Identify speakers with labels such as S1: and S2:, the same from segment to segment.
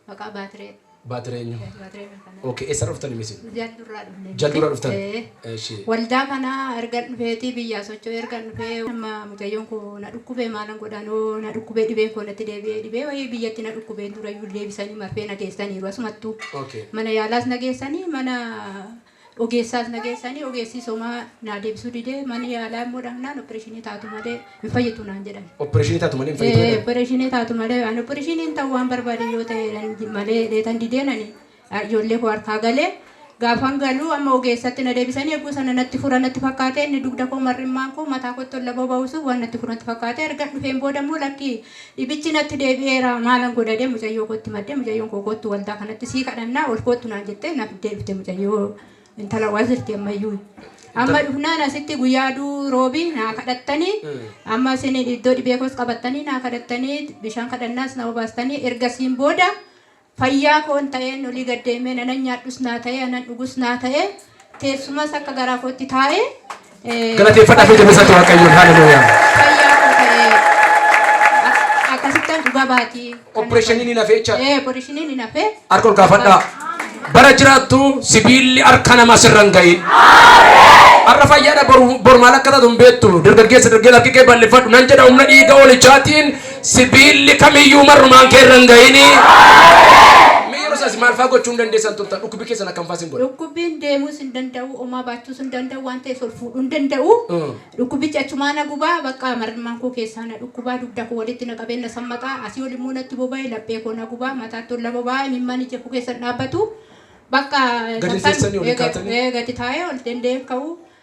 S1: Maqaa Baatiree. Baatiree eenyu? Eh, Baatiree
S2: Mirkanaa.
S1: Okay, eessarra dhuftani misin?
S2: Jaldurraa dhufne.
S1: Jaldurraa dhuftan? Eh.
S2: Eshi. Waldaa kana
S1: erga dhufeetii biyyaa socho'u erga dhufee amma mucayyoon koo na dhukkubee maalan godhanoo na dhukkubee dhibeen koo natti deebi'ee dhibee wayii biyyatti na dhukkubee durayyuu deebisanii marfee na geessaniiru asumattuu Okay. mana yaalaas
S2: na
S1: geessanii mana Ogeessaas na geessanii ogeessis homaa naa deebisuu didee mana yaalaa immoo dhaqnaan oppireeshinii taatu malee hin fayyitu naan jedhan. Oppireeshinii taatu malee hin fayyitu
S2: Ee jedhan? oppireeshinii taatu malee
S1: ani oppireeshiniin ta'u waan barbaade yoo ta'e jedhan malee jedheetan dideen ani a- ijoollee koo harkaa galee gaafan galuu amma ogeessatti na deebisanii eeguu sana natti fura natti fakkaatee inni dugda koo mar'immaan koo mataa kootti ol laboo ba'uusuuf waan natti fura natti fakkaatee ergan dhufeen booda immoo lakkii Dhibichi natti deebi'eera maalan godha jedhee mucayyoo kootti madde mucayyoon koo koottu waldaa kanatti sii kadhannaa ol koottu naan jettee na fiddee dhufte mucayyoo intala wazirti ammayyuu. Amma Intal. dhufnaan asitti guyyaa aduu roobii naa kadhattanii amma isin iddoo dhibee koos qabattanii naa kadhattanii bishaan kadhannaas na obaastanii ergasiin booda Fayyaa koon ta'een olii gad deemee nanan nyaadhus naa ta'ee anan dhugus naa ta'ee teessumas akka garaa kootti taa'ee Galateeffadhaa
S2: fi fayyaa jabeessaatti kootti Waaqayyoon. taa'ee Haleluuyaa. fayyaa koo
S1: ta'ee ak- akkasittan dhuga baatii kanan godhe. Oppireeshiniin hin hafe
S2: jechaadha. Ee, oppireeshiniin hin hafe.
S1: Harka ol kaafadhaa.
S2: Bara jiraattu sibiilli harka namaa sirra hin ga'iin. Har'a fayyaadha boru boru maal akka taatu hin beektu. Dargaggeessa dargaggeessa harki kee bal'ifadhu. Nan jedha humna dhiiga hoolicaatiin Sibiilli kamiyyuu marrumaan kee irra hin ga'ini. Mee yeroo isaas maal fa'aa gochuu hin dandeessan turtan? Dhukkubbii keessan akkam fa'aa isin godha? Dhukkubbiin deemuus hin
S1: danda'u, omaa baachuus hin danda'u, waan ta'es ol fuudhuu hin danda'u. Mm. Dhukkubbichi achumaa na gubaa, bakka marrimaan koo keessaa na dhukkubaa, dugda koo walitti na qabee na sammaqaa, asii ol immoo natti boba'e, laphee koo na gubaa, mataatti ol na boba'aa, imimmaan ija koo keessa hin dhaabbatu. Bakka Gadi hin sometimes- teessanii, ol hin eh, gad- kaatanii? eh, gadi taa'ee ol danda'ee hin ka'u.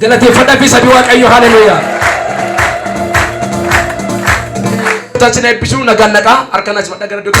S2: Galateeffadha fi sabi Waaqayyo haleluuyaa. Tasin eebbisuu nagaan naqaa harka nas madha gara dugda.